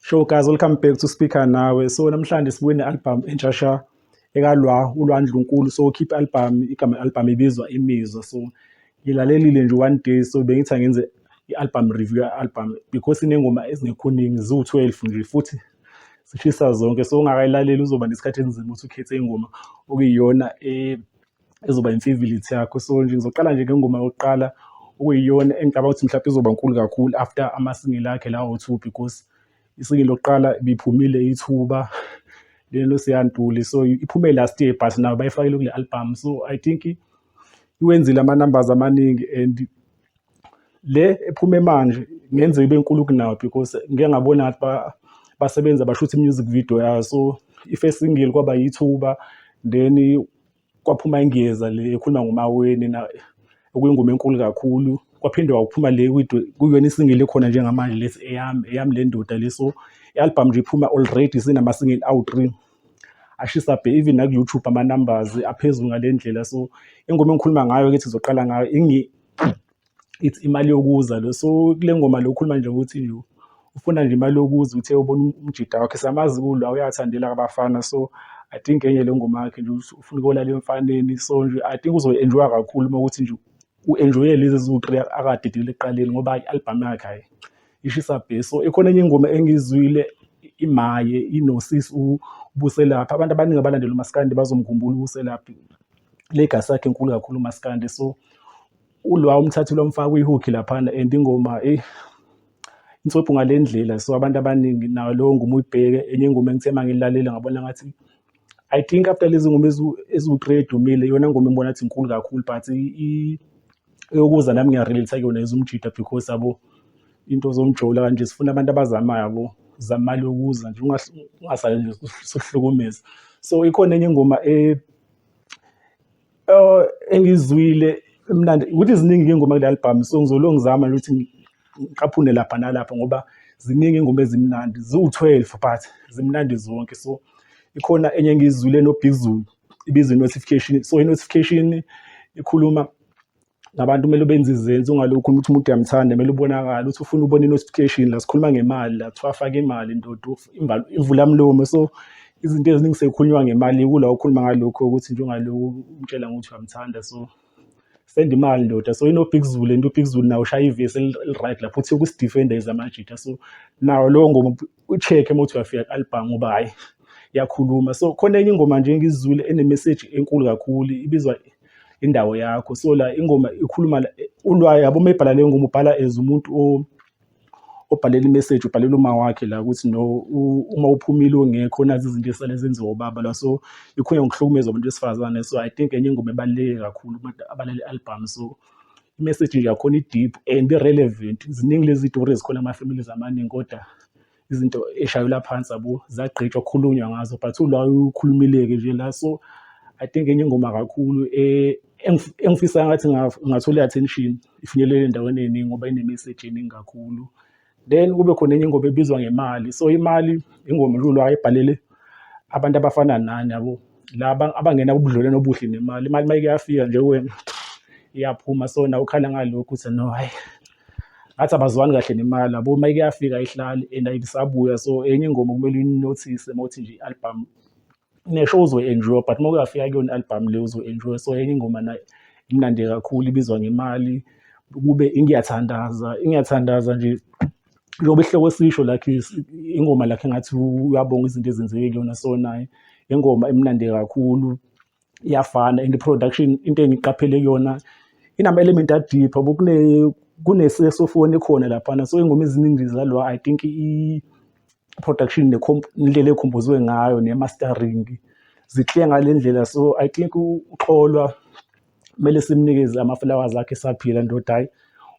Show guys, welcome back to Speaker Nawe. So namhlanje sibuye ne-album entshasha ekalwa uLwandlunkulu. So ukhiphe i-album, igama i-album ibizwa Imizwa. So ngilalelile nje one day so bengithi angenze i-album review ya-album because inengoma ezingekhoningi ziwu-twelve nje futhi zishisa zonke so ungakayilaleli uzoba nesikhathi enzima ukuthi ukhethe ingoma okuyiyona eh, ezoba imfivilithi yakho so nje ngizoqala nje ngengoma yokuqala okuyiyona engicabanga ukuthi mhlawumbe izoba nkulu kakhulu after amasingile akhe lawo two because isingile lokuqala ibiphumile ithuba lelo siyantuli so iphume last year but nayo bayifakile kule album so i think iwenzile ama-numbers amaningi and le ephume manje ngenze ibe nkulu kunawo because ngike ngabona ngathi ba- basebenza bashutha i-music video yayo so i-first single kwaba yithuba then kwaphuma ingeza le ekhuluma ngomaweni na okuyingoma enkulu kakhulu kwaphinde wakuphuma le kwido- kuyona isingile ekhona njengamanje lesi eyami eyami le ndoda le so i-album nje iphuma already sinama-single awu-three ashisa bhe even naku YouTube ama numbers aphezulu ngalendlela so ingoma engikhuluma ngayo ke sizoqala ngayo ingi it's imali yokuza lo so kule ngoma lo ukhuluma nje ukuthi you ufuna nje imali yokuza uthe ubona um-, umjida wakhe samazi kulwa uyathandela abafana so i think enye le ngoma yakhe nje ufuna ukolala emfaneni so nje i think uzoyi-enjoya kakhulu uma ukuthi nje u-enjoye lezi ziwu-three akadidile ekuqaleni ngoba i-albhamu yakhe hhayi ishisa bhe so ikhona enye ingoma engiyizwile imaye inosisi ubuselaphi abantu abaningi abalandela umaskandi bazomkhumbula ubuselaphi legacy yakhe enkulu kakhulu umaskandi so ulwa umthathile wamfaka kwihook laphana and ingoma eyi inswebhu ngale ndlela so abantu abaningi nawo lowo ngoma uyibheke enye ingoma engithe uma ngilalela ngabona ngathi I think after lezi ngoma eziwu-three edumile iyona ngoma engibona athi inkulu kakhulu but eyokuza nami ngiyarelate kuyona ezumjida because abo into zomjola kanje sifuna abantu abazamayo yabo zamali yokuza nje ungasale nje sohlukumeza so ikhona enye ingoma e Oh engizwile emnandi ukuthi ziningi ingoma kule album so ngizolo ngizama ukuthi ngiqaphune lapha nalapha ngoba ziningi ingoma ezimnandi ziwu-12 but zimnandi zonke so ikhona enye engiyizwile noBig Zulu ibizwe notification so i-notification ikhuluma nabantu kumele benze izenzi ungalokhu ukuthi umuntu uyamthanda kumele ubonakala uthi ufuna ubona i-notification la sikhuluma ngemali la kuthiwa afake imali ndoda ivula mlomo so izinto eziningi sekukhulunywa ngemali kula okhuluma ngalokho ukuthi njengalokhu umtshela ngokuthi uyamthanda so send imali ndoda so inobig zulu and ubig zulu nawo ushaya ivesi eli-right lapho uthi ukuzidifenda is amajita so nawo lowo ngoma u-check-e uma uthi uyafika ku-album ngoba hhayi yakhuluma so khona enye ingoma nje ngizizwile enemeseji enkulu kakhulu ibizwa indawo yakho so la ingoma ikhuluma ulwayo yabo uma ibhala leyo ngoma ubhala as umuntu o obhalela imeseji ubhalela uma wakhe la ukuthi no uma uphumile ungekho nazi izinto esale zenziwa ubaba la so ikhona ngokuhlukumeza abantu besifazane so i think enye ingoma ebaluleke kakhulu abantu abalale album so imessage nje yakhona i-deep and i-relevant ziningi lezi tori ezikhona ama-families amaningi kodwa izinto eshayelwa phansi abo zagqitshwa kukhulunywa ngazo but ula ukhulumileke nje la so i think enye ingoma kakhulu eh, engifisa ngathi ngathola i-attention ifinyelele endaweni eningi ngoba ine-message eningi kakhulu then kube khona enye ingoma ebizwa ngemali so imali ingoma uLulu ayibhalele abantu abafana nani yabo laba abangena ubudlelwano obuhle nemali imali mayike yafika nje kuwena iyaphuma so nawe ukhala ngalokho ukuthi no hayi ngathi abazwani kahle nemali yabo mayike yafika ihlali and ayibisabuya so enye ingoma kumele uyinothise mawuthi nje i-album nesho uzoyi-enjoy but uma kuyafika kuyona i-albhamu le uzoyi-enjoy so enye ingoma nayo imnandi kakhulu ibizwa ngemali kube ingiyathandaza ingiyathandaza nje njengoba isihloko esisho lakhe ingoma lakhe ngathi uyabonga izinto ezenzeke kuyona so naye ingoma imnandi kakhulu iyafana and i-production into engiqaphele kuyona inama-element adeep kune-saxophone ekhona laphana so ingoma eziningi zalwa i think production indlela ekhompozwe ngayo ne-mastering zikliya ngale ndlela so i think uxolwa kumele simnikeze ama-flowers akhe esaphila ndoda hhayi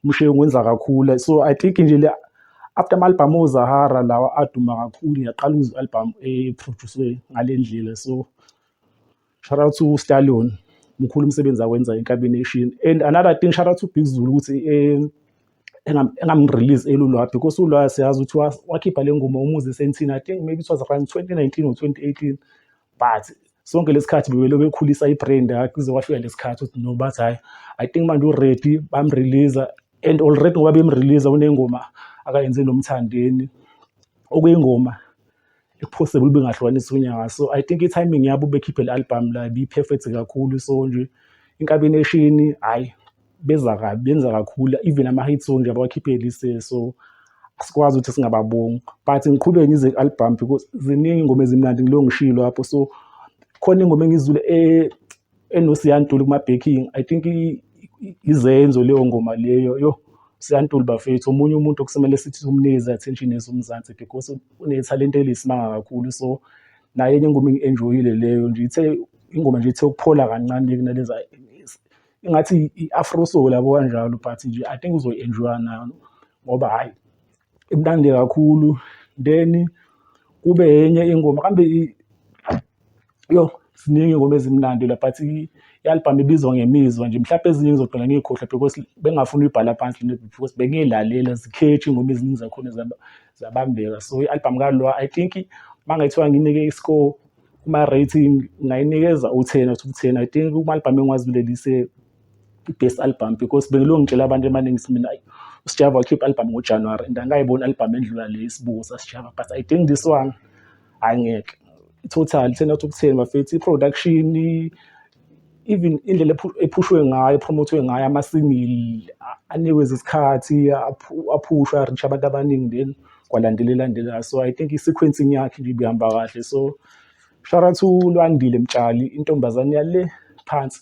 umshiye ungenza kakhulu so i think nje le after ama-album ozahara lawa aduma kakhulu ngiyaqala ukuzwa i-album ephroduswe ngale ndlela so Shout out to Stallion. Mkhulu umsebenzi awenza eNkabi Nation. And another thing shout out to Big Zulu ukuthi eh, engam- engamrelease elulwa because ulwa siyazi ukuthi wa- wakhipha le ngoma umuzi esentini i think maybe it was around 2019 or 2018 but sonke lesikhathi bebelo bekhulisa ibrand yakhe kuze kwafika lesikhathi ukuthi no bathi hayi i think manje uready bamrelease and already ngoba bemrelease unengoma akayenze nomthandeni okuyingoma possible bengahlukanisa unyaka so i think i-timing yabo bekhiphe le album la bi-perfect kakhulu so nje inkabi neshini hhayi beza kabi benza kakhulu even ama-hit song nje abawakhiphe lise so asikwazi ukuthi singababongi but ngiqhubeke ngize ku-album because ziningi ingoma ezimnandi ngilo ngishilo lapho so khona ingoma engizule eh, enosiyantuli kuma-backing i think izenzo leyo ngoma leyo yo siyantuli bafethu omunye umuntu okusemele sithi umnikeze attention yethu umzansi because unethalente eliyisimanga kakhulu so naye enye ingoma engi-enjoyile leyo nje ithe ingoma nje ithe ukuphola kancane kunaleza ingathi i-afro soul yabo kanjalo but nje i think uzoyi-enjoya nayo ngoba hhayi imnandi kakhulu then kube yenye ingoma kambe yo ziningi ingoma ezimnandi la but i-albhamu ibizwa ngemizwa nje mhlawumbe ezinye ngizogcina ngiyikhohlwa because bengafuni uyibhala phansi le because bengiyilalela zikhethi ingoma eziningi zakhona zabambeka so i-albhamu kalwa i think uma ngathiwa nginike i-score kuma-rating ngayinikeza u-ten out of ten i think kuma-albhamu engiwazibilelise i-best album because bengilokhu ngitshela abantu emaningi ukuthi mina usijava wakhipha i-album ngojanuwari and angayiboni i-album endlula le isibuko sasijava but i think this one hhayi ngeke total ten out of ten bafethu i-production even indlela ephushwe ngayo epromothwe ngayo amasingili anikwe izikhathi aphushwe arisha abantu abaningi then kwalandelela ndelela so i think i-sequencing yakhe nje ibihamba kahle so shout out to Lwandile Mtshali intombazane yale phansi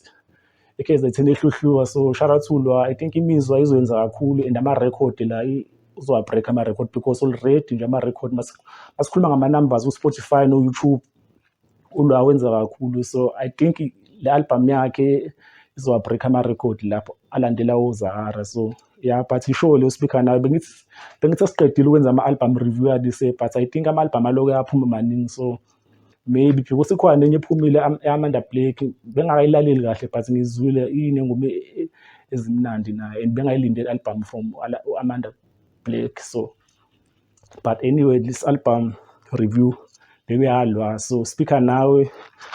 eKZN ehluhluka so shout out to Lwa I think imizwa izoyenza kakhulu and ama record la uzowa break ama record because already nje ama record masikhuluma ngama numbers ku Spotify no YouTube uLwa wenza kakhulu so I think le album yakhe izowa break ama record lapho alandela uZahara so yeah but ishow leyo speaker nayo bengithi bengithi asiqedile ukwenza ama album review alise but I think ama album aloke aphuma maningi so maybe because ikhona nenye ephumile amanda blake bengakayilaleli kahle but ngizwile inengoma e, e, ezimnandi naye and bengayilindele album from amanda blake so but anyway this album review bekuyalwa so speaker nawe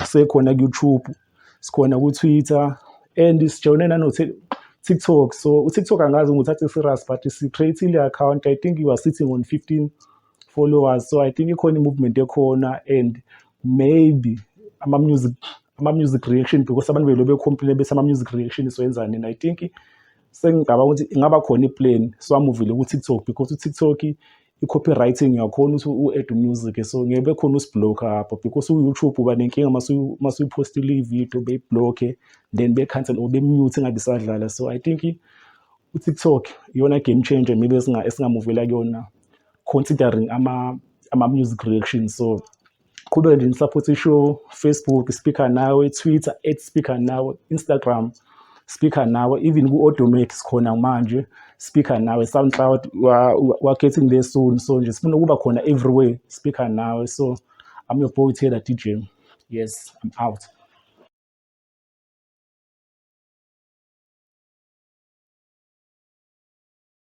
sekhona ku-youtube sikhona ku-twitter and sijone nano-tiktok so utiktok angazi nguthathe serious but si-creatile account i think you are sitting on 15 followers so i think ikhona i-movement ekhona and maybe ama-music ama-music reaction because abantu belo becomplaine bese ama-music reaction soyenzani and i think sengicabanga ukuthi ingaba khona i-plan so amuvile ku-tiktok because u-tiktok i-copywriting uyakhona ukuthi u-add music so ngeke bekhona usiblock apho because u-youtube uba nenkinga masuyiphostile i-video beyiblokhe then be-cancel or be-mute ingabe isadlala so i think u-tiktok iyona game changer maybe esingamuvela kuyona considering ama ama music reaction so qhubeke nje nisupport ishow Facebook speaker nawe Twitter at speaker nawe Instagram speaker nawe even ku automate sikhona manje speaker nawe SoundCloud we are getting there soon so nje sifuna ukuba khona everywhere speaker nawe so I'm your boy Taylor DJ yes I'm out